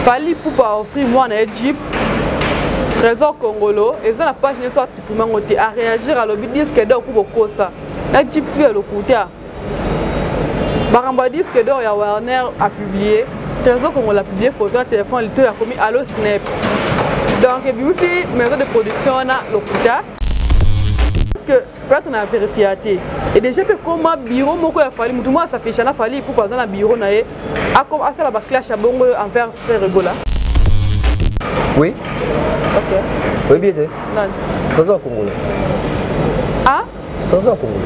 fali pupa ofri mwana ye jeep trésor congolo eza na page nyonso asupprime yango te aréagir alobi diske dor ku bokosa na jeep su ya lokuta makambo ya diske dor ya warner apublie trésor congolo apublie photo ya telefone litoyo akomi alo snap donc ebimisi maison de production wana lokuta plate na verifia te e déjà mpe koma bureau moko ya fali motu moko asafisha na fali ipuku aza na bureau na ye asala baclash ya bongo envers frère ebola oui oyebi ete toza bakongole toza bakongole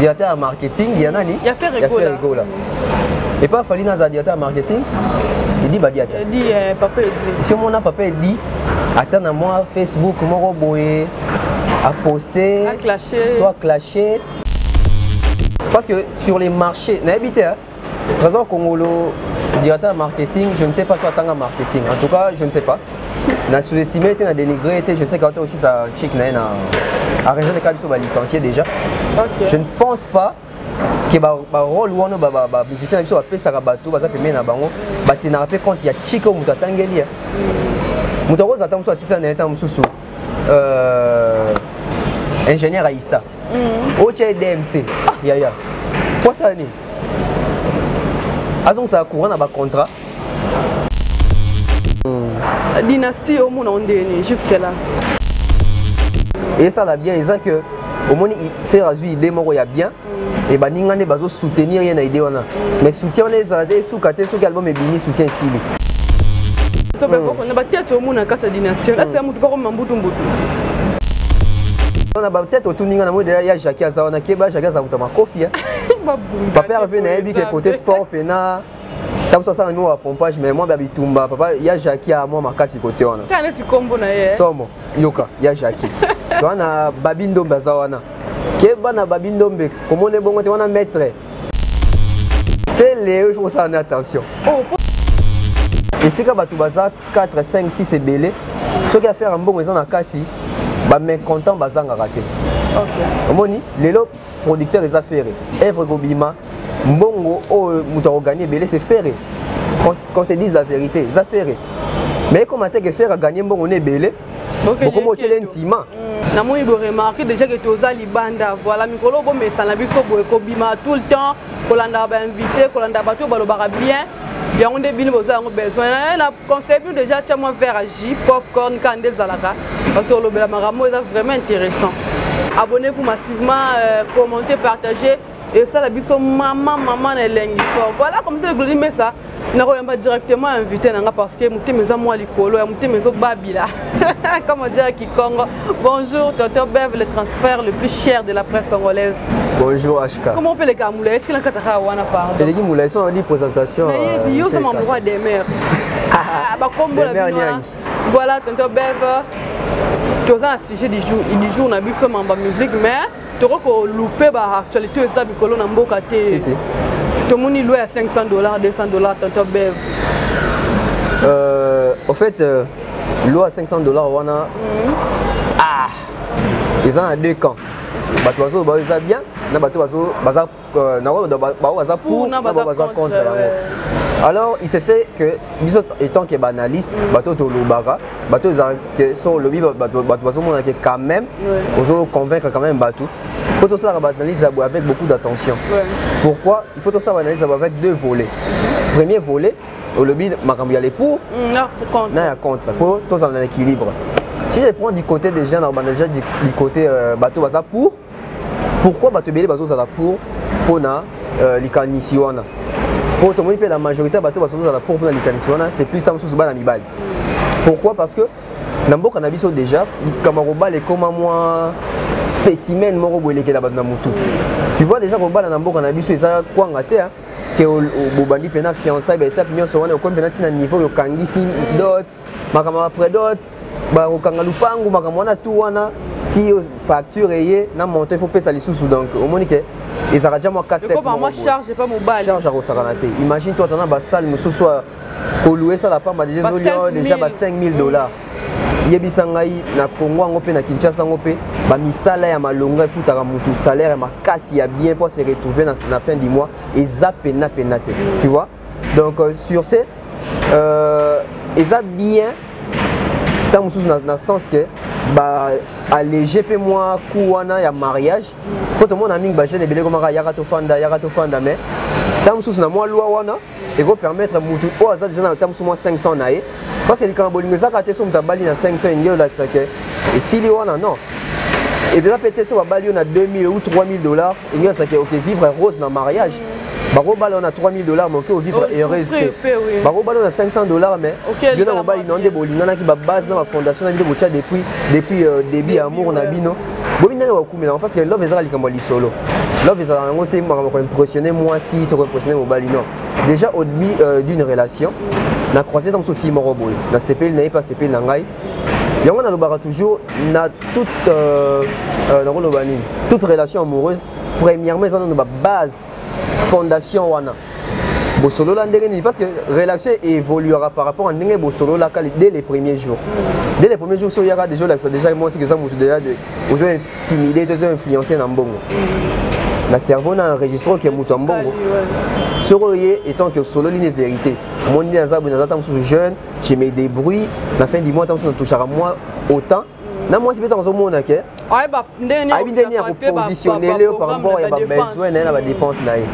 directeur ya marketing ya nani ya ferre gola et pas fali naza directeur ya marketing edi badiata edi eh, papa edi si omona papa edi ata na mwa facebook moko boye aposte to aclashe parce que sur les marchés nayebi te Trésor Congolo, directeur de marketing, je ne sais pas si atanga marketing. En tout cas, je ne sais pas. Na sous-estimé était, na dénigré était, je sais qu'autant aussi sa chic na na à région de Kabiso ba licencié déjà. Okay. Je ne pense pas que ba, ba rôle wana ba ba, ba musicien biso ba pesa ka bato baza pembe na bango ba tenara pe compte ya chic au mutatangeli. Mutakoza tamuso asisa na eta mususu. Euh ingénieur à ISTA. mm. otya ye dmc ah, yaya mpo asala nini azongisaka courant na bacontrat mm. dynastie omona ondeye nini jusque là esala bien eza que omoni faire azwi idée moko ya bien mm. e baninga nde bazosoutenir ye na idée wana mais soutien wana ezala te suka te soki album ebimi soutien esili to pe boko na ba tete omona kasa dynastie là c'est mutu boko mambutu mbutu na batete otuni nga na moi deja ya jacki aza wana keba jacki aza kuta makofi papa reve nayebi ke kote sport pena tabuso asala mimo ya pompage mais mwa bya bitumba papa ya jacki ya mwa makasi kote wana eh. somo yoka ya jacki wana babi ndombe aza wana keba na babi ndombe komona ebongo te wana maitre sele il faut kosala na attention oh, esika bato baza 4 5 6 ebele soki affaire ya mbongo eza na kati bamécontent bazangaka te omoni lelo producteur eza fere evre kobima mbongo oyo moto akoganye ebele se fere qu'on se dise la vérité eza fere mais ekoma te ke fere aganye mbongo na ebele bokomi otyele ntima namoni boremarke déjà ke toza libanda voilà mikolo bomesana biso boye kobima tout le temps kolandaka bainvité kolanda bato oyo balobaka bien yango nde bino boza yango besoin eh, na conseil bino déjà tya mwa vert ya jus popcorn kaka nde ezalaka parce que olobela makambo eza vraiment intéressant abonnez-vous massivement euh, commentez partagez esala biso mama mama na elengi fort voilà comme ça le glodi mesa nakoyamba directement invité na nga parce que motema eza mwa likolo ya motema ezobabila comme odia ya kikongo bonjour toto bev le transfert le plus cher de la presse congolaise bonjour hk comment peut leka mulaye tikela kata kaka wana pardon eleki mulaye so nadi présentation nayebi yo sama mokwa demeure bakombola bino voilà tonto bev toza na sujet du jour na biso mamba musique mais toko ko louper ba actualité oyo eza mikolo na mboka te si, si. tomoni loi ya 500 dollars 200 dollars tonton bev euh, au fait euh, loi ya 500 dollars wana mm -hmm. ah eza na deux camps bato bazoyo bayo eza bien na bato baza euh, na oyo baoyo baza pour na baoyo baza contre yango alors il se fait que biso étant que banaliste mm. bato tolobaka bato ezala que so olobi bato bazomona ke quand même ozo convaincre quand même bato faut tosalaka baanalyse ya boye avec beaucoup d'attention pourquoi il faut tosala baanalyse ya boye avec deux volets premier volet olobi makambo ya le pour mm, na ya contre mpo tozala na équilibre si je prends du côté des gens na obanda déjà du côté euh, bato baza pour pourquoi bato ebele bazozala pour mpona euh, likanisi wana mpo tomoni mpe la majorité ya bato bazozala pour mpona likanisi wana c'est plus ta mosusu bana mibali pourquoi parce que na mboka na biso déjà likambo ya kobala ekoma mwa spécimen moko boye elekela bato na motu tu vois déjà kobala na mboka na biso eza kwanga te ke bobandi mpe na fiançai baetape nyonso wana okomi mpe nati na niveau yokangisi dot makambo ya predot bakokanga lupangu makambo wana tu wana ti facture eye na montant il faut pesa lisusu donc omoni ke ezalaka ja mwa casse-têtecharge akosakana te imagine toi tana basale mosusu kolua esala pamba deja ezolio deja ba 5000 mm. dollars yebisa ngai na congo yango mpe na kinshasa yango mpe bamisala ya malonga efutaka motu salaire makasi ya bien mpo se retrouve na fin du mois eza pena pena te tu vois donc euh, sur ce euh, eza bien ntango mosusu na, na sens que ba allege mpe mwa coût wana ya mariage mpo tomona mingi bajeune ebele ekomaka yaka tofanda yaka tofanda mais ntango mosusu na mwa lwa wana ekopermettre motu oyo aza deja na ntango mosusu mwa 500 na ye parce que likambo bolingo ezaka te so moto abali na 500 enge olakisa ke esili wana non epeza mpe te so babali yo na 2000 ou 3000 dollars enge olakisa ke oke vivre rose na mariage mm. bakobala na 3000 dollars mais oke ovivre oh, heureuse te bakobala na 500 dollars mais yo na mobali na yo nde bolinganaki babase na bafondation na bino botya depuis depuis euh, début ya amour na bino bobi ndenge bakumelaka parce que love ezalaka likambo ya lisolo love ezalaka yango te makambo koimpressionne mwasi to koimpressionne mobali non déjà au début euh, d'une relation na croisé dans ce film moko boye na sepeli na ye mpe asepeli na ngai yango nalobaka toujours na toute euh, euh, nakoloba nini toute relation amoureuse premièrement eza nano babase fondation wana bosolola ndenge nini parce que relation évoluera par rapport à ndenge bosololaka dès les premiers jours dès les premiers jours so oyaka déjà olakisa déjà mwasi eza motu déjà ozo timide tozo influencer na mbongo na cerveau na enregistre oke moto ya mbongo soki oye etant ke osololi ne vérité omoni nde naza boye naza ta mosusu jeune je me débrouille na fin du mois ta mosusu natouchaka moi autant na mwasi mpe ntango azomona ke ayebi ndenge ya kopositionnele yo par rapport ya babesoin na ye na badepense na ye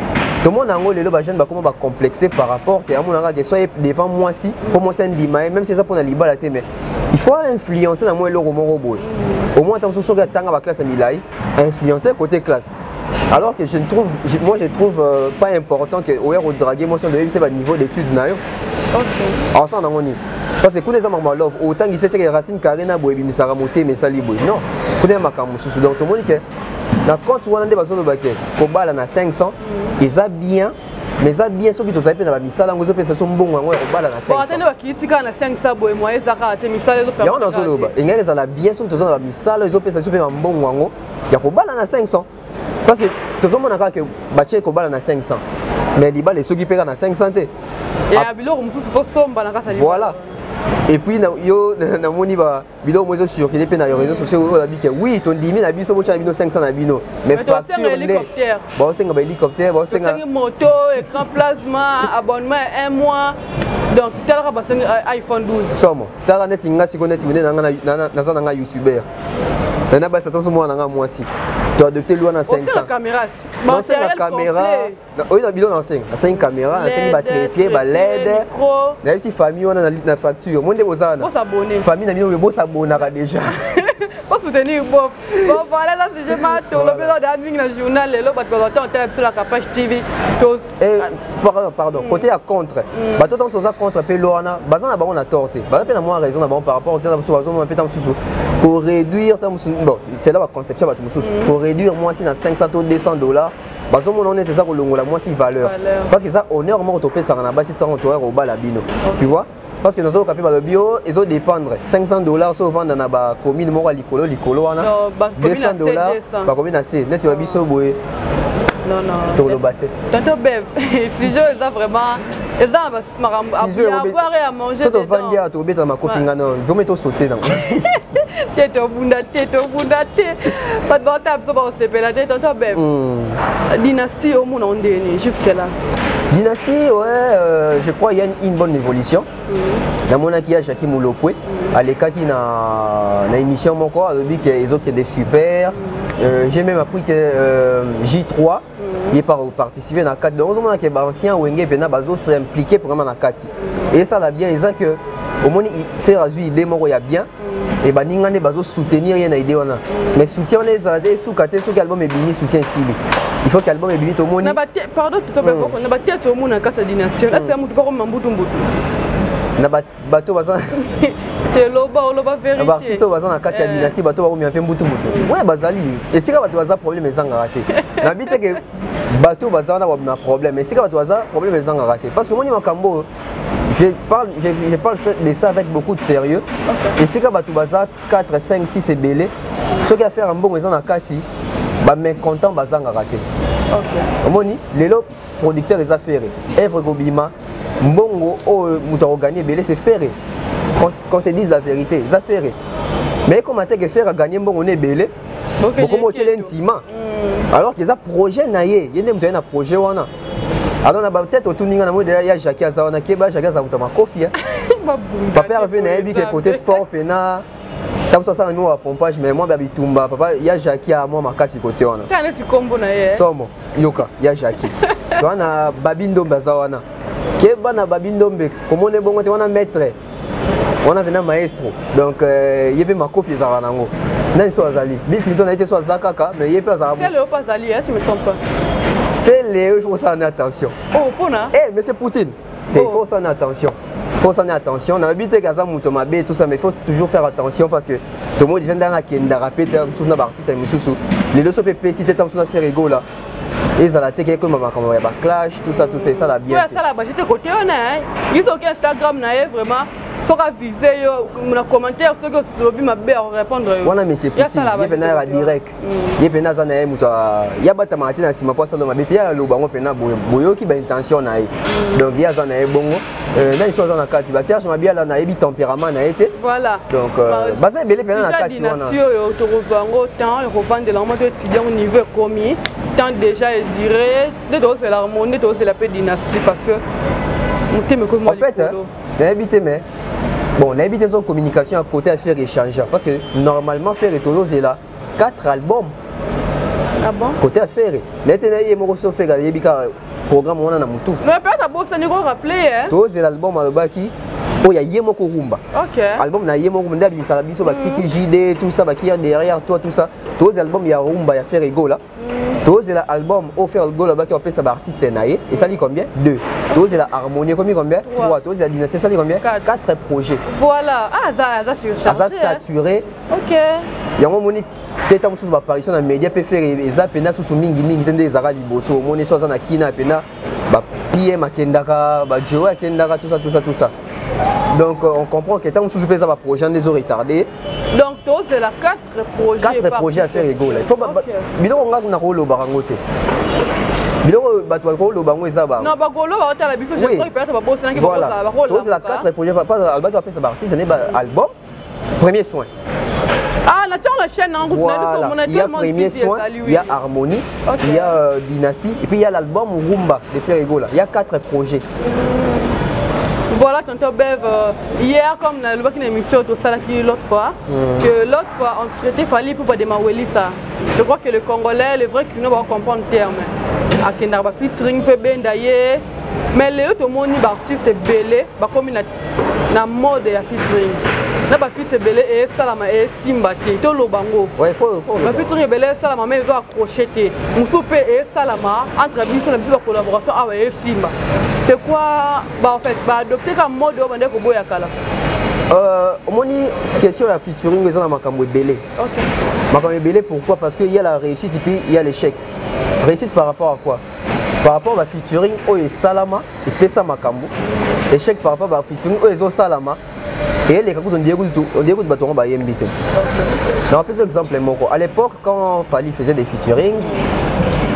tomona yango lelo bajeune bakoma bacomplexe par rapport ke amonaka ke soye devant mwasi mpo mwasi andima ye même si eza mpo na libala te mais il faut influencer na mwa eloko moko boye au moins ata mosusu soki atanga baklasse ya milai influencer côté classe alors que je ne trouve je, moi je trouve euh, pas important que oya kodrague mwasi ondo oyebisa baniveau d'étude na yo ensemble nango nini parce que kuna eza makambo ya love otangisi eteke racine carré na boye ebimisaka motema esali boye non kuna ya makambo mosusu donc tomoni ke na compte wana nde bazoloba ke kobala na 500 eza bien mais eza bien soki tozali mpe na bamisala yango ezopesa biso mbongo yango ya kobala na 500 bakii tikala na 500 boye moye eza kaka te misala yango nazoloba engaki ezala bien soki toza na bamisala ezopesa biso mpe bambongo yango ya kobala na 500 parce que tozomona kaka ke batie kobala na 500 mais libala esoki mpe kaka na 500 te ya biloko mosusu tosomba na kasa voilà et puis yo namoni ba biloko mozo circuler mpe na réseau sociaux oyo olobi ke oui tondimi na biso botya na bino 500 na bino mais facture nde baosenga bahélicoptère baosenga moto écran plasma abonnement ya un mois donc talaka basengi euh, iphone 12 somo talaka neti nga siko neti mende naza na nga youtubeur nana basi ata oso mwana na nga mwasi toadopte lwa na 500 caméra oyo na bilo nasenga nasengi caméra nasengi batrepied baled nayebisi famille wana na facture mo nde boza wana famille na bino oyo bosabonaka déjà bosoutenir bof bon voilà eza sujet ma tolobeli oyo daa mingi na journal lelo bato bazwa ntango tala biso la capage tv eh, pardon mm. côté ya contre mm. bato ntango oza contre mpe lo wana baza na bango na tort te baza mpe na mwa raison na bango par rapport ntango mosusu bazomona mpe ntango mosusu koréduire ntango mosusu bon c'est là baconception ya bato mosusu koréduire mm. mwasi na 500 to 200 dollars bazomona onese eza kolongola mwasi valeur parce que eza honneur moko topesaka na basi ntango toyaka kobala bino tu vois parce que nazoyoka mpe balobi o ezo dépendre 500 dollars so ovanda na bacommune moko ya likolo likolo wana 200 dollars bakomi na se neti ba biso boye toloba te tonto beb fusion eza vraiment eza na makambo avoir et à manger soto vandi ato obeta makofi nga non vraiment to sauter na te to bunda te to bunda te pas de bata abso ba sepela te tonto beb hmm. dynastie au monde ndeni jusque là dynastie ouais euh, je crois il y a une, une bonne évolution hmm. na mona ki ya Jackie Mulopwe hmm. alekaki na na émission moko alobi que ezokende super euh, j'ai même appris que euh, J3 ye par participer na kati donc ozomona ke baancien wenge mpena bazo s'impliquer vraiment na kati esala bien eza que omoni faire azwi idée moko ya bien e baninga nde bazo soutenir ye na idée wana mais soutien wana ezala te esuka te soki album ebimi soutien esili il faut que album ebimi tomoni na ba pardon to ba na ba tete omona kasa dynastie là c'est mutu pako mambutu mbutu na ba bato baza eloba oloba verité ba artiste baza na kati ya eh. dynastie bato bakomema mpe mbutu mbutu ouais bazali esika bato baza problème ezangaka te nabi te ke bato baza wana babima problème esika bato baza problème ezangaka te parce que omoni makambo oyo je parle, je, je parle de ça avec beaucoup de sérieux okay. esika bato baza 4 5 6 ebele soki affaire ya mbongo eza na kati bamécontent bazangaka te omoni lelo producteur eza fere evre ekobima mbongo oyo moto akoganye ebele se fere qu'on se dise la vérité eza fere mais ekoma te ke fere aganye mbongo na ebele bokoma otyele ntima hmm. alors eza projet na ye ye nde moto aye na projet wana alors na batete otuni nga na moi deya ya jacki aza wana keba jacki aza moto ya makofi papa herve nayebi ke kote sport mpena tabuso asala mimo ba pompage mais mwa bya bitumba papa ya jacki ya mwa makasi kote wana kaka neti nkombo na ye somo yoka ya jacki to wana babi ndombe aza wana ke bana babi ndombe komona ebongo te wana maître wana pena maestro donc euh, ye mpe makofi ezalaka nango nani so azali bill clinton aye te so aza kaka mais ye mpe azalaka sele oyo il faut faire attention oh pona eh monsieur poutine te oh. faut sana attention faut sana attention na bite kaza moto mabe tout ça mais faut toujours faire attention parce que to modi janda na kenda rapete mususu na ba artiste mususu les deux so pe pesi te tamsu na faire ego là ezala te ke ekoma makambo ya baclash tout ça tout ça esala bien asala bajete kote wana ye soki instagram na ye vraiment soki avise yo na commentaire soki olobi mabe akorépondre yo wana monsieur putin ye mpenza yaka direct ye mpena aza na ye moto ye abatamaka te na nsima mpo asala mabe te ye aloba yango mpena boyoki baintention na ye mm. donc ye aza na ye bongo euh, nani so aza na kati baserge mabiala nayebi tempérament na ye te donc euh, baza ebele mpena na kati wana oyo tokozwa yango temps ekovandela yango to étudie yango niveau ekomi temps déjà edure nde tozela harmonie nde tozela mpe dynastie parce que motema ekomi en fait nayebi te mais bon nayebi te so communication ya côté ya ferre échange parce que normalement ferre tozozela 4 albums ah bon? côté ya ferre naye te naye ye moko so ferre ayebi kaka programme wana na motu mais peut-être abosani ko rappeler eh? tozela album alobaki oyo ya ye moko rumba okay. album na ye moko nde abimisaka biso bakiki mm. jde tout ça bakir derrière toi tout ça tozela album ya rumba ya ferre egola tozela album oyo ferre gola baki opesa baartiste na ye esali combien 2 tozela harmonie ekomi combien 3 tozela dynastie esali combien 4 projet voilà ah, aza aza surchargé aza saturé ok yango omoni mpe ntango mosusu baparation na média mpe fere eza mpenza susu mingimingi te nde ezalaka liboso omoni so aza na kina mpenza bapm akendaka bajoe akendaka tusa tusa tusa donc euh, on comprend que ntango mosusu mpe eza baprojet nde ezo retarde donc tozela 4 quatre projet ya ferre egola ifo biloko nga nakolobaka yango te biloko oyo bato bakoloba yango eza bangotokozela quatre projet albaki apesa baartiste nde baalbum premier soin Ah, la la chaîne en route. Voilà. Il y a premier soin, il y a harmonie, okay. il y a euh, dynastie, et puis il y a l'album Rumba de Ferregola. Il y a quatre projets. Voilà, quand on bev. Euh... Hier, comme na lobaki na émission tosalaki l'autre fois, mm. que l'autre fois on traitait Fally pour pas de Mawelisa. Je crois que le Congolais, le vrai Kino va comprendre le terme. Akenda ba featuring pe benda ye. Mais lelo tomoni ba artistes belé ba komi na na mode ya featuring. na bafiti ebele esalama esimba te toloba yango bafiti oyo ebele esalama ma ezo accroche te mosusu mpe esalama entre biso na biso bacollaboration awa esimba c'est quoi ba en fait ba adopter ka mode oyo bande koboya kala euh, omoni question ya featuring eza na makambo ebele okay. makambo ebele pourquoi parce que il y a la réussite et puis il y a l'échec réussite par rapport à quoi par rapport ba featuring oyo esalama epesa makambo échec par rapport ba featuring oyo ezosalama eyeleka kutu ndiye kutu bato yango bayembi te na opesa exemple moko à l'époque quand fali faisait des featuring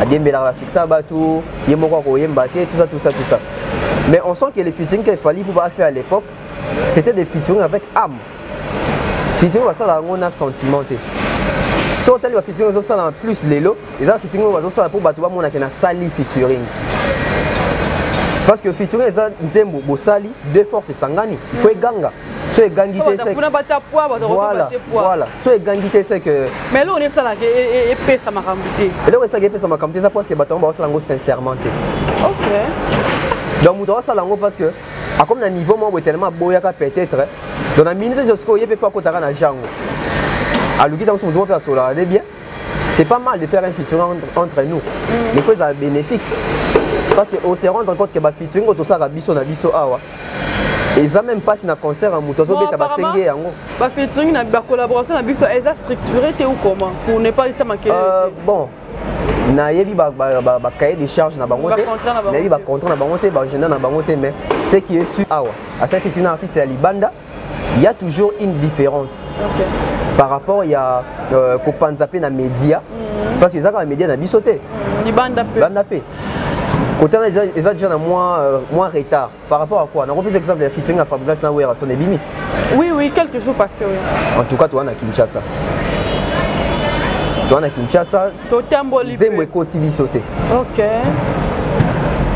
adiembelaka basuccès ya bato ye moko akoyemba te tout ça tout ça tout ça mais on sent que les featuring que fali mpo baafait à l'époque c'était des featuring avec âme featuring basala yango na sentiment te so otali bafeaturing ezosalama plus lelo eza featuring oyo bazosala mpo bato bamona ke nasali featuring parce que featuring eza nzembo bosali de force esangani il faut eganga so egangi te seke voilà voilà so egangi te seke mais eloko nde esalaka e, e, e, epesa makambo te eloko esalaka epesa makambo te eza parce que bato yango baosala yango sincèrement te ok donc moto aosala yango parce que akomi na niveau moko boye tellement aboyaka peut-être donc na minute nyonso sikoyo ye mpe fo akotaka na jango aluki ntango so moto moko mpe asolaka nde bien c'est pas mal de faire un featuring entre, entre nous mm. mais faut ezala bénéfique parce que ose rendre compte que bafeaturing oyo tosalaka biso na biso awa eza même mpasi na concert ya moto azobeta basenge yango bafeaturing na bacollaboration na biso eza structuré te ou comment pour ne pas etia makele euh, bon nayebi bacahier de charge na bango te nayebi bacontra na bango te baagenda na bango te mais ce qui est su awa asali featuring na artiste ya libanda il y a toujours une différence okay. par rapport ya euh, kopanza mpe na média mm -hmm. parce que eza kaka média na biso te mm, libanda mpe banda mpe côté wana eza, eza déjà na moins, euh, moins retard par rapport à quoi nakopesa exemple ya featuring ya fabrigas na wera son ebimiti oui oui quelques jours passé oui. en tout cas toa na kinshasa toa na kinshasa totamboli nzembo ekoti biso te okay.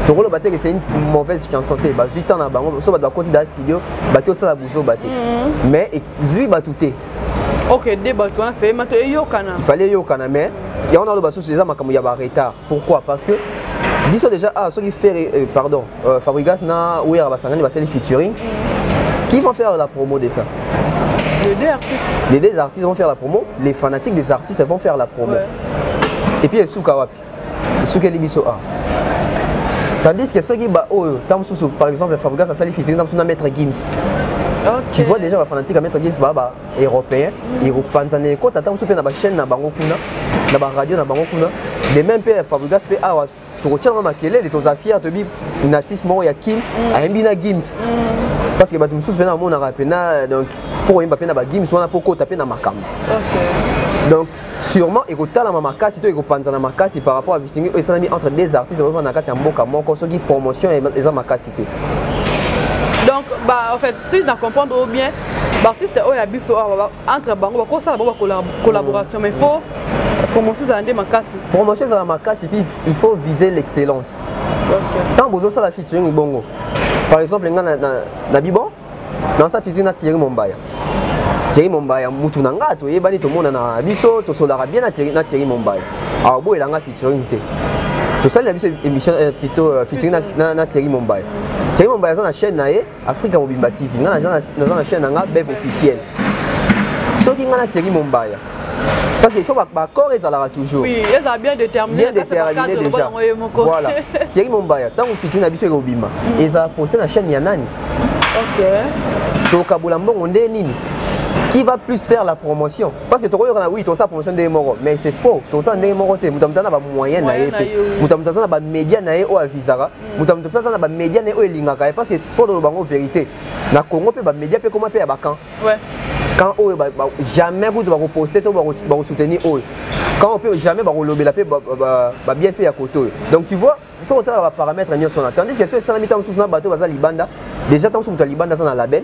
tokoloba te ke c'est une mauvaise chanson te bazwi temps na bango so bato bakoti da studio baki osala buzoba te mhm. mais ezwi bato te ok de bato wana feye mato eyokana fallait eyokana mais yango naloba susu eza makambo ya baretard pourquoi parce que biso déjà awa ah, soki fere euh, pardon euh, Fabrigas na Wera Basangani basali featuring. Qui vont faire la promo de ça Les deux artistes. Les deux artistes vont faire la promo, les fanatiques des artistes vont faire la promo. Ouais. Et puis Esuka wapi Esuka Libiso A. Tandis que ceux qui bah oh, Tamsusu, par exemple, Fabrigas a sali featuring Tamsusu na Maître Gims. Okay. Tu vois déjà bafanatique ya maître gims baa ba européen mm. ekopanzana ekota ntango mosusu mpe na bachaîne na bango kuna na baradio na bango kuna de même mpe fabrigas mpe awa tokotia yango makelele toza fier toyebi na artiste moko ya kin mm. ayembi na gims mm. parce que bato mosusu mpena bamonaka mpena donc fo koyemba mpe na bagims wana mpo kota mpe na makambo donc sûrement ekotalama makasi to ekopanzana makasi par rapport ya bisingi oyo esalami entre des artistes bazofanda na kati ya mboka moko soki promotion eza makasi te donc bah, en fait si na comprendre oyo bien baartiste oyo ya biso awa entre bango bakosala bango bacollaboration mais faut promotion ezala nde makasi promotion ezala makasi puis il faut viser l'excellence ntango bozosala featuring bongo par exemple nga na, na, na bibon nansa featuring na thierry mombaya thierry mombaya mutu na nga toyebani tomonana biso tosolaka bien na thierry mombaya awa boyela nga featuring te tosalela biso émission eh, plutôt euh, featuring na, na, na thierry mombaya thierry mombaya aza na chaîne na ye Afrika mobimba TV nga naza na chaîne na nga bev officiel soki nga na Thierry Mombaya parce qu'il faut baccord ezalaka toujours oui, ezala bien déterminé bien déterminé déjà voilà Thierry Mombaya ntango fiti na biso ekobima mm. ezala poste na chaîne ya nani okay. tokabola mbongo nde nini qui va plus faire la promotion parce que tokoyoka na oui tosala promotion ndenge moko mais c'est faux tosala ndenge moko te moto ya moto aza na bamoyen na ye mpe moto ya moto aza na bamédia na ye oyo avisaka moto ya moto mpe aza na bamédia na ye oyo elingaka ye parce que fo toloba yango vérité na congo mpe bamédia mpe ekoma mpe ya bacan camp oyo jamais kutu bakoposte to bakosoutenir oyo camp oyo mpe jamais bakolobela mpe babienfait ya kote oyo donc tu vois faut kotala baparamètre nyonso wana tandis que so esalami ntango mosusu na bato baza libanda déjà ntango mosusu moto ya libanda aza na label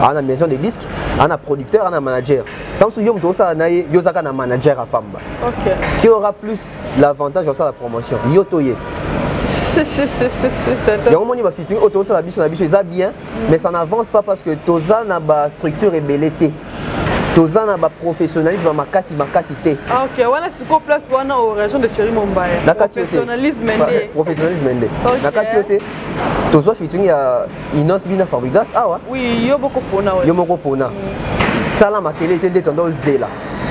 ana maison de disque ana producteur ana manager ntango soki yo moto osala na ye yo ozaka na manager ya pamba okay. tu aura plus l'avantage ya osala promotion yo to ye yango omoni bafeaturing oyo tozosala biso na biso eza bien mais ça n'avance pas parce que toza na bastructure ebele te toza na baprofessionnalisme ya makasi makasi te ah, wana sikoyo place wana o région de thierry mombaya na kati yo te professionnalisme nde na kati yo te tozwa featuring ya Inos bina Fabrigas awa. Ah oui, yo boko pona. Yo moko pona. Mm. Sala makele te nde tondo zela.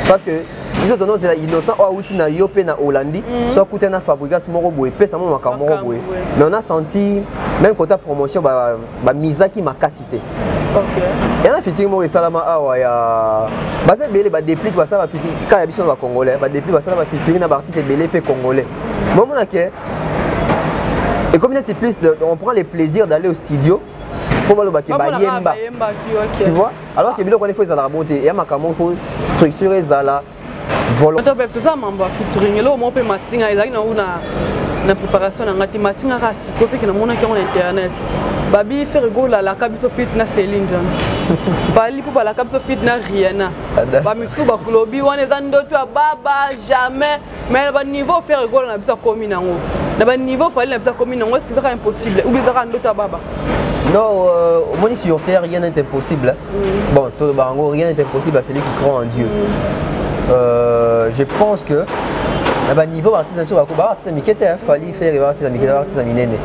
Parce que biso tondo zela innocent oyo awuti na yo mpe na Hollandi mm. so akuta na Fabrigas moko boye pesa mo makambo moko boye. Mais on a senti même kota promotion ba ba misaki makasi te. ya na fitiri moko esalama awa ya baza ebele badeplike basala bafitiri kaka ya biso na bacongolais badeplike basala bafitiri na baartiste ebele mpe congolais momona ke Et comme c'est plus, de, on prend le plaisir d'aller au studio pour voir le bac bayemba. Tu vois Alors que biloko il faut ezala bonté, il y a makambo faut structurer ezala volo. Oto pe pesa mambo featuring, elo mo pe matinga ezali na una na préparation na ngati matinga ka siko fait que na mona ki on internet. Babi faire go la la kabiso fit na Céline Dion. Bali pour la kabiso fit na Rihanna. Ba misu ba kulobi wana eza ndoto ya baba jamais mais na baniveau fere gola na biso akomi nango na baniveau fali na biso akomi nango eske ezaka impossible ou ezaka ndoto ya baba Non, euh, omoni sur terre, rien n'est impossible. Mm. Bon, tout bango, rien n'est impossible à celui qui croit en Dieu. Mm. Euh, je pense que na baniveau baartiste biso bako baartiste mike te fali fere baartiste mike te baartiste minene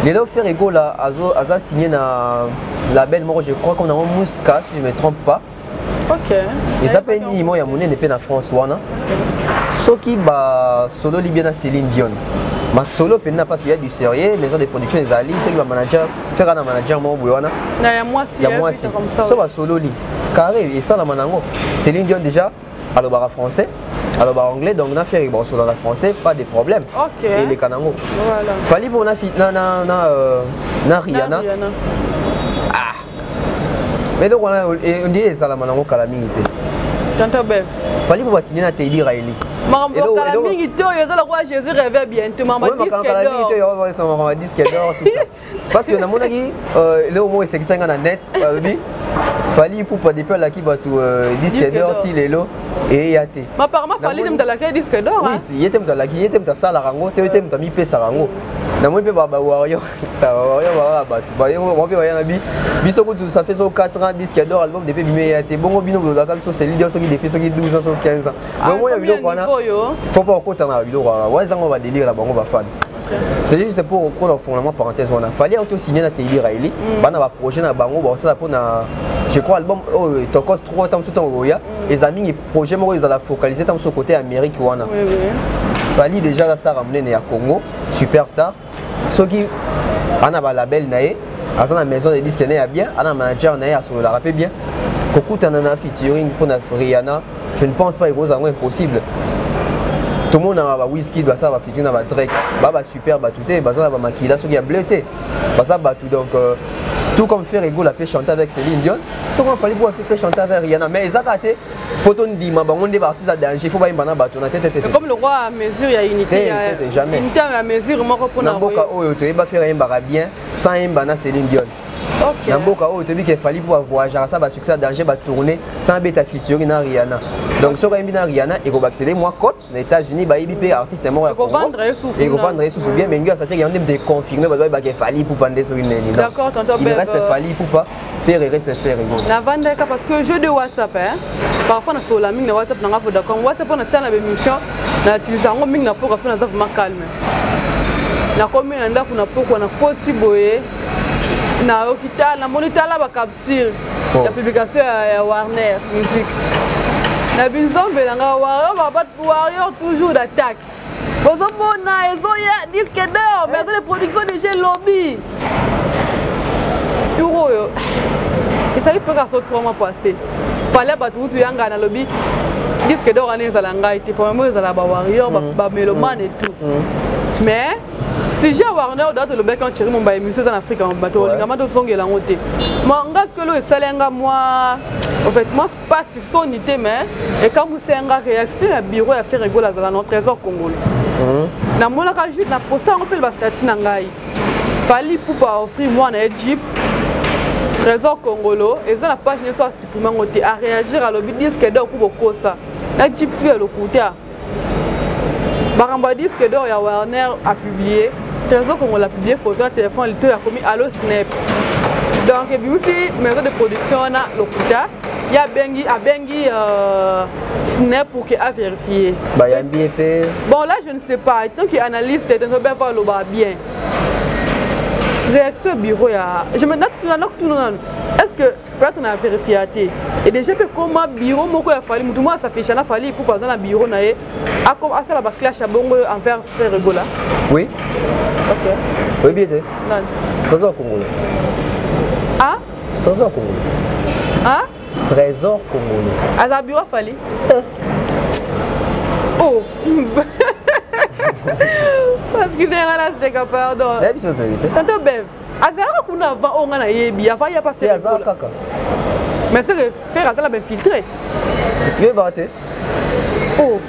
lelo fere egola aza signe na label moko je crois comme nango musca si je me trompe pas eza mpe nini moko ya monene mpe na france wana soki basololi bien na céline dion masolo mpenza parce qu'il y a du sérieux maison de production ezali soki bamanager fera na manager moko boye wana ya mwasi so basololi carré esalama na yango céline dion déjà alobaka français alobaka anglais donc na fiere bakosola na français pas de problème okay. eleka nango voilà. fali mpo na, na, na, na, euh, na riana ah. mais eloko wana ondie ezalama nango kala mingi te tonto bev fali mpo basigne na tedi raeli makambo ya kala mingi te oyo eza lokola jésus reve bientôt makambo ya disque d'or parce que namonaki euh, eloko moko esekisaki nga na net balobi fali ipupa depuis alaki bato euh, disque d'or ti lelo eya te apparemment fali nde moto alaki disque d'or oui ye te moto alaki ye te moto asalaka yango te ye te moto amipesaka yango namoni mpe bawario bawario baa bato bango mpe baya na bi biso kutu ça fait so 4 ans disque d'or album depuis bimi eya te bongo bino bolobaka biso celui d'or soki depuis soki 12 ans soki 15 ans ah, donc omona biloko wana faut pas okota na biloko wana wana ezango badélire na bango bafani c'est juste pour okona ofongola mwa parenthèse wana fali auti osigne na teli raeli mm. bana baprojet na bango bakosala mpona je crois album oyo oh, tokos 3 ntango mosusu ntango okoya mm. eza mingi projet moko ezala focalise ntango mosusu kote ya amérique wana fali déjà aza star ya monene ya congo superstar soki ana balabel na ye aza na maison de disque na ye ya bien ana manager na ye asololaka mpe bien kokutana na featuring mpona riana je ne pense pas ekozala yango impossible tomonaka ba whisky basala bafiti na badrek ba basuper bato te baza na bamakila soki ya bleu te baza bato donc euh, tout comme faire egola mpe chante avec celine dion tout comme fali boa mpe chante avec riana mais ezaka te mpo tondima bango nde baartiste ya danger fo bayemba na bato na tetetekomi lokola mesure ya unité jamais unité ya mesure moko mpona mboka oyo toyeba faire ayembaka bien sans yemba na celine dion Okay. na mboka oyo toyebi ke fali mpo bavoyageaka sa basuccès ya danger batourne sans beta featuring na riana donc soki ayembi na riana ekobakisa ye mwa cote na états-unis bayebi mpe artiste moko ya ekovandre ye susu bien mais ngi asateki yango nde mpe confirme bato bayebaka fali pupa nde soki neni il reste fali pupa ferre reste ferre navandaka parce que jeu de whatsapp hein? parfois nasolola mingi na whatsapp nanga vodacom whatsapp oyo natya na bémission na utilise yango mingi na mpoka fo naza vraiment calme nakomi na ndako na pokwa na koti boye na hôpital na moni tala ba capture oh. ya publication ya, ya Warner music na binzombe na nga warrior warrior toujours d'attaque bozomona ezoya disque d'or mais aza le production de jeu lobby tour oyo ezali mpe kaka so trois mois passé fale bato kutu yanga nalobi disque d'or wana ezala ngai te premièrement ezala ba warrior mm. ba melomane mm. et tout mm. mais sujet ya warner oyo date olobaki en chéri momba émission eza na afrika bato olingama tozongela yango te ma nga sikolo esali yanga mwa en fait mwa pasi soni te mais ekamwisa yanga réaction ya bureau ya ferre egola azala na trésor congolo mhm. namonaka juste na posta yango mpe bastatut na ngai fali pupa offri mwana ye jeep trésor congolo eza na page nyonso asupprime yango te aréagir alobi diske de oku bokosa na jeep su ya lokuta makambo ya disque d'or ya warner apublie trésor kongola apublie photo ya telefone litoyo akomi alo snap donc ebimisi maison de production wana lokuta ye abengi abengi euh, snap pour ke averifie bayambi ye mpe bon là je ne sais pas tant que analyse te tenzo beko aloba bien réaction bureau ya je me natuna nakutuna nanu est ce que plate na verifia te e déjà mpe ekoma biro moko ya fali motu moko asafisha na fali ipupa aza na biro na ye asala baclash ya bongo envers frère ebola oui oyebi ete trésor congolais ah? trésor congolais ah? trésor congolais aza biro fali eh. oh parce que ndenga naseka pardon nayebi so verité tante beve azalaka kuna avant oyo nga nayebi avant ya pase aza kaka mais seke fere aza na bainfiltre yebaka te oh.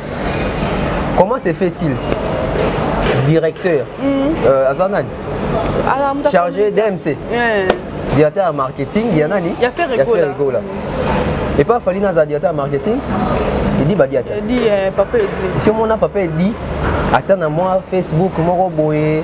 comment se fait-il directeur mm. euh, aza nani ah, chargé d'mc yeah. directeur ya marketing ya nani ya fere egola epa fali naza directeur ya marketing edi badi ata esi omona papa edi ata na mwa facebook moko boye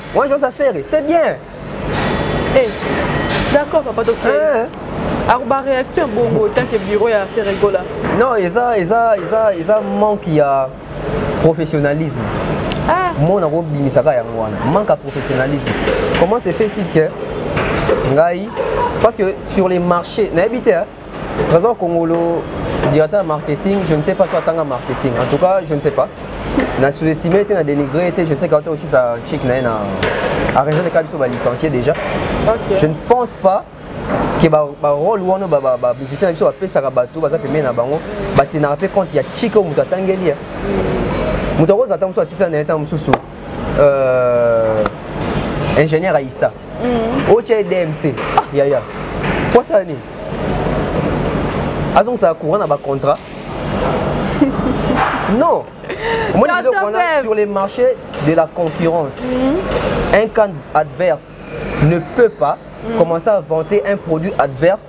Moi j'ose à faire, c'est bien. Eh, d'accord papa toke. Eh. Alors ba réaction bongo tant que bureau ya faire rigola. Non, eza eza eza eza manque ya professionnalisme. Ah. Moi na ko bimisaka yango wana. Manque ya professionnalisme. Comment se fait-il que ngai parce que sur les marchés nayebi te Trésor Kongolo, directeur de marketing, je ne sais pas si atanga marketing. En tout cas, je ne sais pas. Na sous-estimé était, na dénigré était, je sais qu'autant aussi sa chic na na à région de Kabiso ba licencié déjà. Okay. Je ne pense pas que ba, ba rôle ou ba ba ba musicien biso ba pesa ka bato baza pembe na bango ba tenara pe compte ya chic ou mutu atangeli. Mutu akoza tango so asisa na tango mususu. Euh ingénieur à ISTA. mm. otya ye dmc ah, yaya posa nini azongisaka courant na bacontrat non omoni biloko wana sur les marchés de la concurrence mm. un camp adverse ne peut pas mm. commencer à vanter un produit adverse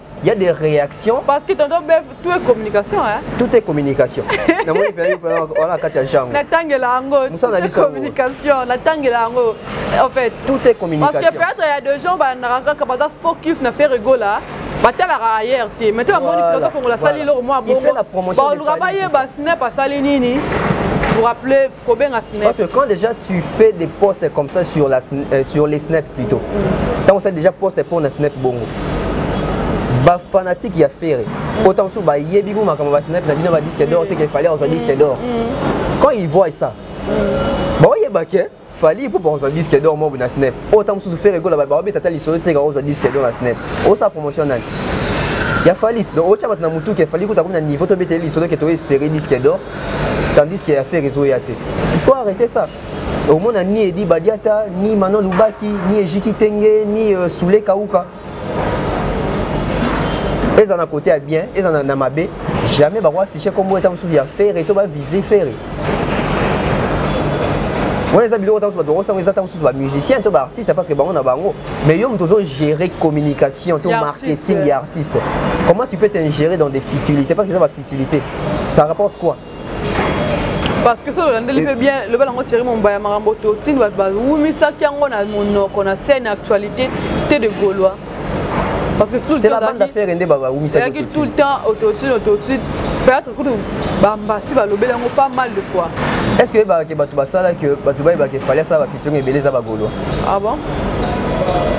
Il y a des réactions. Parce que tonton Bev, tout est communication. Hein? Tout est communication. na moni pe on a katia jango. Na tangela ango. Musa na biso communication, na tangela ango. En fait, tout est communication. Parce que peut-être il y a des gens ba na ranga ka baza focus na faire ego là. batalaka ayer te maintenant bamoni toza kongola asali eloko mwa bongo baoluka bayeba snap asali nini pour appeler kobenga snap parce que quand déjà tu fais des posts comme ça sur la euh, sur les snap plutôt tant on sait déjà poste pour na snap bongo ba fanatique ya ferre autant que ba yebi ko makambo ba snap na bino ba disque d'or te qu'il fallait on disque d'or mm, mm. quand ils voient ça mm. ba yeba que fali mpo bakozwa disque d'or mobu na snap oyo ntango mosusu fere egola babeta ata lisolo te kakozwa disque d'or na snap osala promotion nani ya fali donc otya bato na motuka efali kuta komi na niveau tobeteli lisolo ke toespere disque d'or tandis que affaire ezoya te il faut arrêter ça omona ni edi badiata ni manon lubaki ni ejiki tenge ni uh, sule kauka eza na kote ya bien eza na, na mabe jamais bako affiche kombo eta mosusu ya fere to bavise fere wana eza biloko ntango bato bakosanga eza ntango mosusu bamusicien to baartiste parce que bango na bango mais yo moto ozogere communication to marketing ya artiste comment tu peux t'ingérer dans des futilités parce que eza utilité ça rapporte quoi parce que soki olandeli mpe bien loba nango thierry mombaya makambo totindi bato bawumisaki yango na monoko na scène actualité cité de gaulois parce que tout le temps bande affaire ende ba wumisa yaki tout le temps autotune autotune peut-être kudu bambasi balobeli yango pas mal de fois est-ce que ba ke bato basala que bato bayeba ke fallait ça ba featuring ebele eza ba gaulois ah bon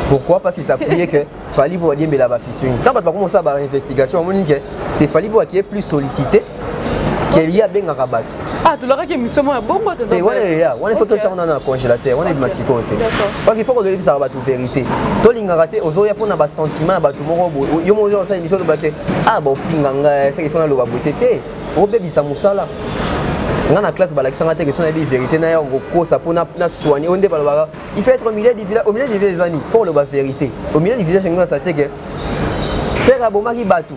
pourquoi parce qu'ils s'appuyaient que fali mpo badiembela ba featuring ntango bato bakoma kosala ba investigation bamoni ke c'est fali mpo akie plus sollicité kelie abengaka bato ah, tolakaki émission moko ya bongo eh, wana eya wana ifo totya wana na congélateur wana ebima sikoyo te parce qu'il faut kozoyebisaka bato vérité tolingaka te ozoya mpo na basentiment ya bato moko boye yo moko oza kosala émission olobake ah baofinga ngai seke ifo naloba boye te te obebisa mosala nga na classe balakisanga te question nayebi vérité na ya kokosa mpo na soigne oyo nde balobaka il faut être au milieu du village au milieu du village ezani faut oloba vérité au milieu du village elingi na sate ke frère abomaki bato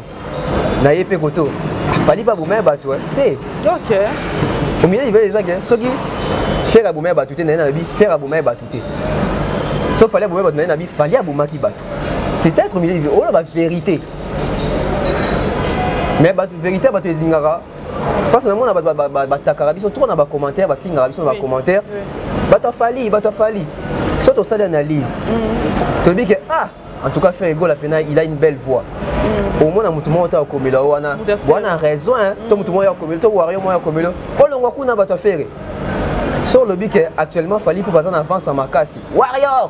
na ye mpe koto fali mpe abomaki bato te okay. au milieu du village eza ke soki frère abomaki bato te na ye nalobi frère abomaki bato te so fali abomaki bato na ye nabi fali abomaki bato c'est ça être au milieu du village oloba vérité mais bato vérité bato ezingaka parce que namona bato batakaka biso trop na bacommentaire bafingaka biso na bacommentaire bato afali bato afali so tosali analyse mm. toyebi ke ah en tout cas frère egola mpena il a une belle voix mm. omona motu moko to akomela yo wana wana raison mm. to motu moko akomela to wario moko akomela olongwa kuna bato afere so olobi ke actuellement fali mpo baza na avance ya makasi warrior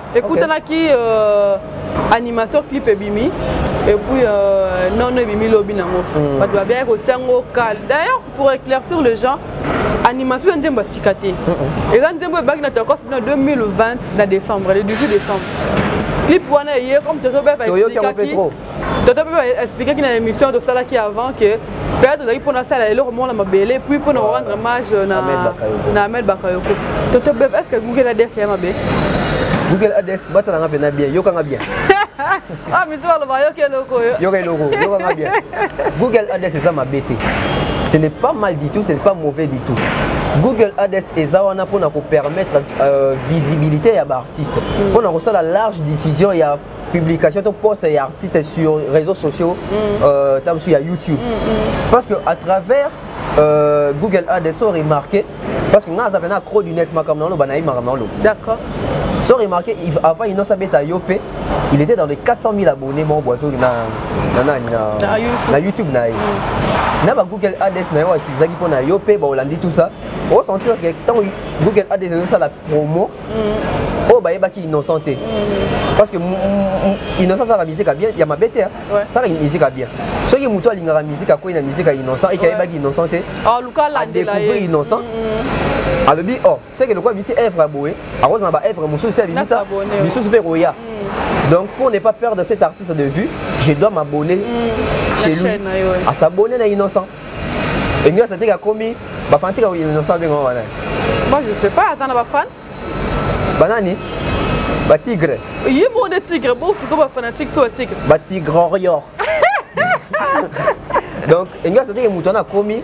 ekutanaki okay. euh, animation clip ebimi et puis euh, non non ebimi lobi nango mm. bato babiyaki kotia ngo kale d'ailleurs pour éclaircir le gens animation eza nzembo ya sika te eza nzembo ebaki na tokos na 2020 na décembre le 18 décembre clip wana eye comme toyobaki tata mpe baexplikaki na émission tosalaki avant que mpe tozalaki mpo nasala eloko moko na mabele puis mpo na korendre mage na amel bakayoko toto bebe est ce que google ads ya mabe google ads batalanga mpe na bien yokanga bien ah misi baloba yoka eloko oyo yoka eloko yokanga bien google ads eza mabe te ce n'est pas mal du tout ce n'est pas mauvais du tout google ads eza wana mpo na kopermettre euh, visibilité ya baartiste mpo mm. na kosala large diffusion ya publication to poste ya artiste sur réseaux sociaux mm. euh, ta mosusu ya youtube mm, mm. parce que à travers euh, google ads so remarqué parce que nga aza pena cro du net makambo naloba nayebi makambo naloba d'accord so remarqué avant inosa beta yo mpe il était dans les 400 000 abonnés mon boiseau na, na, na, na, na youtube na ye mm. na bagoogle ads na yo utilisaki mpo na yo mpe baolandi tout ça osentir ke ntango google ads ezosala promo oyo bayebaki innocent te parce que innocent asala musique ya bien ya mabe te asala musique ya bien soki motu alingaka musique akwei na musique ya innocent eke ayebaki innocent te adecouvrir ah, innocent alobi o oh, seke lokola bisi evre ya boye akozala ba evre mosusu se abimisa misusu mpe ekoya mm. donc pour ne pas perdre cet artiste de vue je dois m'abonner mm. chez lui à s'abonner na innocent Elias ateka akomi ba fanatique ya Innocent abenga wana. Moi je sais pas aza na ba fan. Banani? Ba tigre. Ye mo de tigre bo fuko ba fanatique so ba tigre. Ba tigre warrior. Donc Elias ateka mutu wana akomi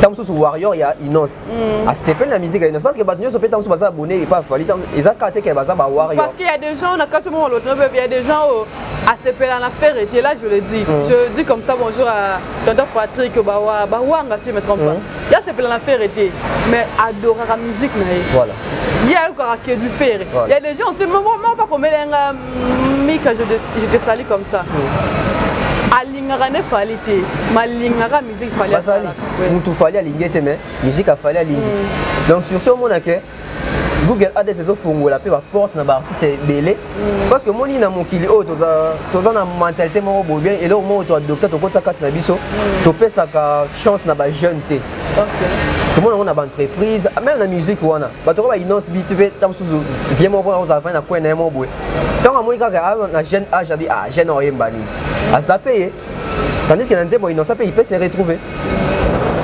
tamususu warrior ya Innos. mm. asepeli na musique inoso parce que bato nyonso mpe ntango mosusu baza abonne epa fali eza kaka te ke baza ba warrior parce qu'il y a des gens na kati moko loto il y a des gens oyo oh, asepela na ferre te là je le dis mm. je dis comme ça bonjour à tonton Patrick bawa bawanga si je me trompe pas mm. ya asepela na ferre te mais adoraka musique na ye voilà ye ayokaka ke du ferre il y a des gens aussi moko pas komela nga mm, mika je te sali comme ça mm. alingaka nde fali te malingaka bazali mutu fali alingi ete mais musique afali alingi mm. donc sur ce omona ke google ades ezofongola mpe baporte na baartiste ebele mm. parce que omoni na mokili oyo toza na mentalité moko boye bien eloko moko toadopta tokotisa kati na biso mm. topesaka chance na bajeune te tomona yango na baentreprise meme na musique wana bato oko bainonce bit mpe ta mosusu vie moko mpona kozala fani na coin na ye moko boye ntango amoni kaka ah, na jeune age abi ah jeune oyemba nini aza mpe ye tandis que na nzembo innocent mpe il peut se retrouver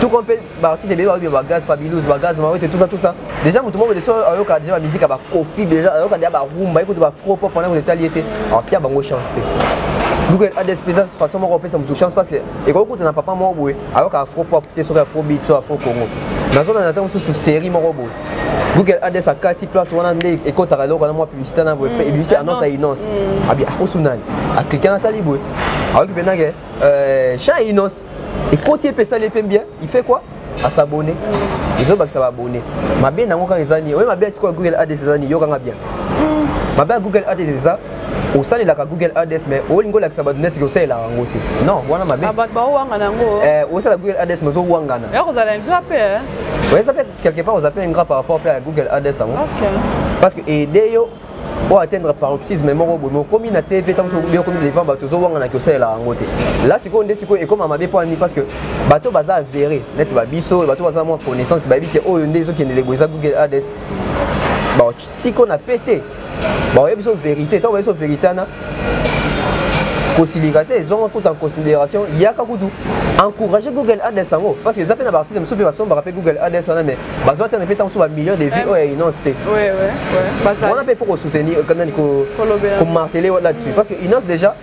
tout comme mpe baartiste ebele baoyo bagaz fabilus bagaz mawete tout ça tout ça déjà moto moko deso ayoka déjà bamiziki ya bakofi déjà ayoka deja barumba ye kutu bafro pop wana kutu etali ye te apia bango chance te donc adsp eza façon moko opesa moto chance parce ekoki kuta na papa moko boye ayoka afro pop te soki afro beat so afro congo nazolanda ntango mosusu série moko boye google ades akati place wana nde ekotaka eloko na mwa publicité na boye mpe ebimisi annonce ya inonce abi akosu nani aklike na tali boye ayoki mpe nake chan ya inonce ekoti ye mpe esali ye mpe bien il fait quoi asabone ezobakisa baabone mabe nango kaka eza nini oye mabe ya sikoyo google ades eza nini yokanga bien mabe ya google ades eza osalelaka google ads mais olingi olakisa bato neti osalelaka yango te non wana mabe ah, bato baowangana yango eh, osala google ads mais ozowangana eza mpe quelque part oza mpe ingrat par rapport mpe ya google ades yango parce que aide yo o atteindre paroxysme moko boye okomi na tv ntango soki obi okomi devant bato ozowangana ki osalela yango te la sikoyo nde sikoyo ekoma mabe mpo ani parce que bato baza avere neti babiso bato baza mwa connaissance bayebi te oyo nde ezokendele boye eza google ades tiko na pete baoye biso verité ntango bayebiso verité wana kosilika te ezonga kutu en considération yaka kutu encourage google ads yango parce que eza mpe na baarticle mosusu mpe basombaka mpe google ads wana mais bazwa tana mpe ntango mosusu bamillion de vie oyo ya inonce te wana mpe il faut kosoutenir nani komartele là-dessus parce que inonce déjà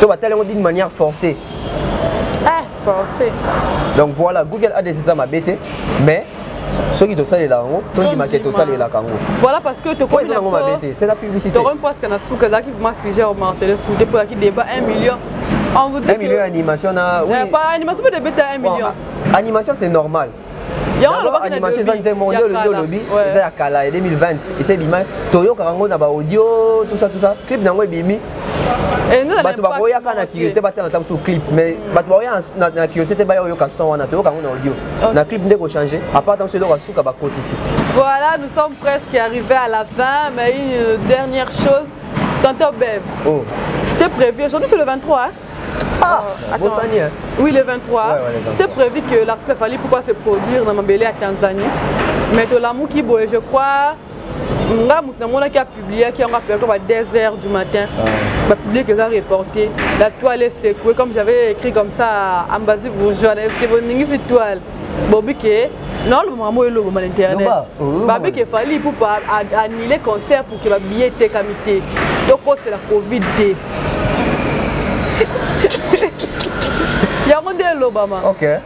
to batali yango d'une manière forcée ah, forcé. donc voilà google ads eza mabe te mais soki tosalela yango tondimaka tosalelaka yango voilà parce que tokomi yango mabe te c'est la publicité tokomi presque na suka ezalaki vraiment sujet au martele sous te mpolaki débat 1 million on vous dit 1 million animation na oui pas animation peut débeta 1 million animation c'est normal animation eza nzembo moko nde olobi eza ya kala ya 2020 esi ebima toyokaka yango na baaudio tusa tusa clip na yango ebimi eh, bato bakoyaka na curiosité batala ata mosusu clip mais bato bakoya na curiosité te baya oyoka son wana toyoka yango na audio na clip nde kochange apart ata mosusu eloko ya suka bakotisi voilà nous sommes presque arrivé à la fin mais une dernière chose tantôt bev oh. c'était prévu aujourd'hui c'est le 23 hein? Ah, Bosani, hein? Oui, le 23. Ouais, ouais, le 23. C'était prévu que l'artiste a fallu pourquoi se produire dans Mabélé à Tanzanie. Mais de l'amour qui boit, je crois, nga moto namonaki apubliaki yango apelaki ba 2 heures du matin ah. bapublie eza reporté la toile esekue comme j'avais écrit comme ça ambazi bourgeois na yoki boningisi toile bobi ke naoloba makambo oyo elobama na internet oh, babi ke fali ipupa annule concert pour ke babiye etekami te tokosela covid te yango nde elobama okay.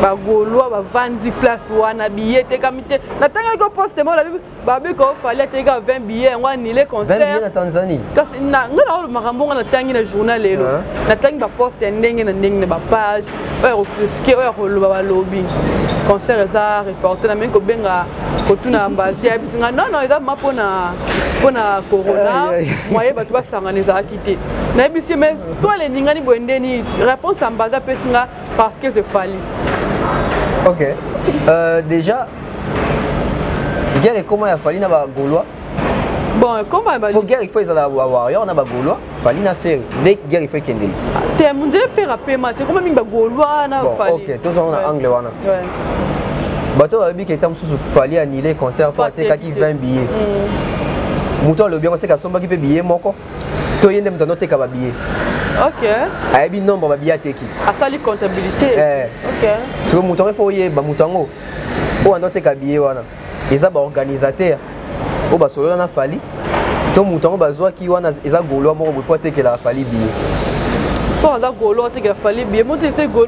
bagolois bavandi place wana biye etekami te natangaki ko poste mona babe ko fali ateka 20 billets yango anile concert na tanzanie kasi nga na makambo nga natangi na journal lelo natangi baposte ya ndenge na ndenge na bapage oyo ya kokritike oyo ya koloba balobi concert eza reporte na mingi kobenga kotuna ambazi ayebisi nga non non eza ma mpona mpona corona moye bato basangana ezalaki te nayebisi mais to alendingani boye ndeni réponse ambazi apesi nga Parce que c'est Fali. Ok. Euh, déjà, guerre et comment il a fallu na ba Gaulois. Bon, comment il a Pour guerre il faut ils allaient avoir warrior na ba Gaulois, fallu na faire dès guerre il faut qu'il y T'es mon Dieu faire un paiement, c'est comment ba Gaulois na bon, fallu. Ok, tous on a angle wana. Ouais. Bato babi que tam sous fallu annuler concert pour attaquer 20 billets. Mm. Moto alobi yango seke asombaki mpe biye moko to ye nde moto anoteka babiye ayebi nombre babiye ateki asali comptabilité eh. soki moto yango efo oyeba moto yango oyo anoteka biye wana eza baorganisateur oyo basolola na fali to moto yango bazwaki wana eza golois moko boye mpo atekelaka fali biye so aza golois atekela fali biye moto ese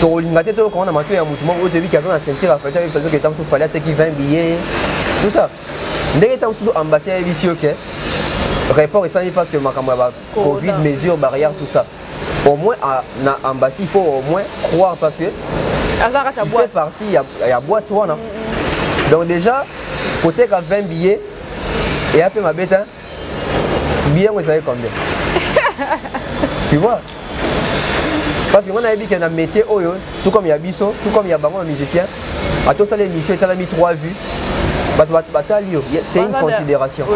tokolinga te toyoka wana matoi ya motu moko oyo toyebi ke aza na ceinture ya fete ayebisa biso ke ntango mosusu fali ateki 20 billet tout ça ndenge ntango mosusu ambassade ayebisi yo ke report esalami parce que makambo ya ba covid mesure barrière tout ça au moins à, na ambassy il faut au moins croire parce que il fait partie ya, ya boîte wana mm -hmm. donc déjà koteka 20 billets eya mpe mabe te billet yango ezalaki combien tu vois parce que nga nayebi ke na métier oyo tout comme ya biso tout comme ya bango ba musicien atosala émission etalami 3 vues bato batali yo c'est une considération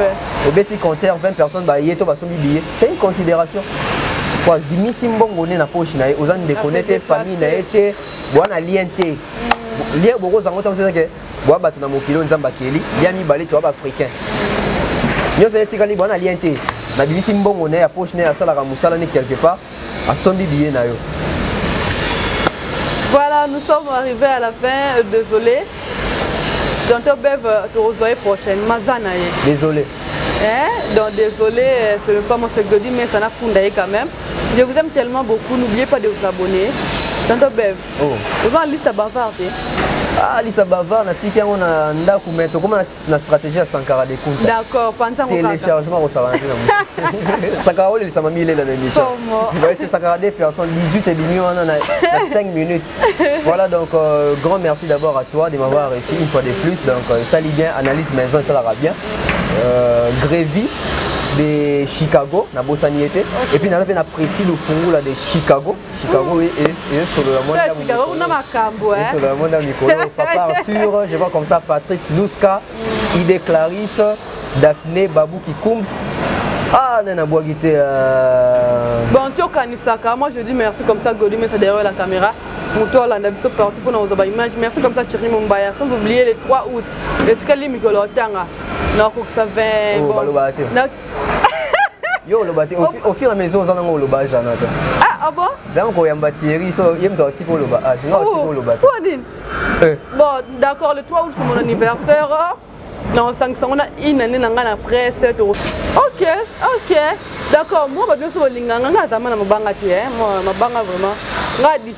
obeti concert 20 personnes baye to basombi billet c'est une considération po abimisi mbongo nde na poche na ye oza ndeko ne te famille na ye te boa na lien te lien bokozango ntango sezake bwa bato na mokili oyo nzambe akeli ya mibale toya baafricain nyonso etikali bwana lien te nabimisi mbongo na ye ya poche na ye asalaka mosala ne quelque part asombi biye na yo voilà nous sommes arrivés à la fin euh, désolé tonto bev euh, tokozwa ye prochainement aza na ye désolé eh? donc désolé euh, c'est le pas mon segodi mais ça n'a funda ye quand même je vous aime tellement beaucoup n'oubliez pas de vous abonner tonto bev oh. oza na liste ya bavard te ah liste ya bavard natiki yango na ndako mai tokoma na stratégie ya sankara de kunta d'accord panzangotéléchargement kosalana te na sankara olelisama milela na émission c'est sankara de personne 18 ebimi wana na 5 minutes voilà donc euh, grand merci d'abord à toi de m'avoir reçu une fois de plus donc euh, esali bien analyse maison esalaka bien euh, grévy de chicago nabosani ye te okay. epuis naza mpe na précis lofungula de chicago Chicago et, et, et solo la mona Chicago Chicago na makambo hein solo la mona mikolo papa Arthur je vois comme ça Patrice Luska mm. Ide Clarisse Daphné Babou Kikums ah nani abwaki te euh. bon ti okanisaka moi je dis merci comme ça godi mesa derrière la caméra moto olanda biso partout mpona kozwa baimage merci comme ça thierry mombaya sans oublier le 3 août etikali mikolo otanga nakokisa 20 balobaka te yo oloba te au fur et à mesure oza nango oloba jana te ah, ah bon zanga koyamba thierry so ye moto atika oloba ah jana atika oloba te nini eh. bon d'accord le 3 août c'est mon anniversaire na osangisa ngo na une année na ngai na presse to ok ok d'accord moi bato nyonso bolinga nga ngai azama na mabanga te mabanga vraiment ngai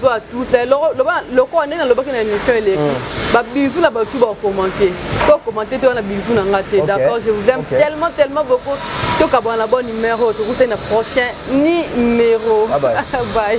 zwa tusa eh, lokola nde nalobaki na émission eleki hmm. babizou na bato bakomante to komante te wana bizou na nga te d'accord je vous aime tellement tellement beaucoup tokabwana na bon numéro tokutani na prochain numéro bye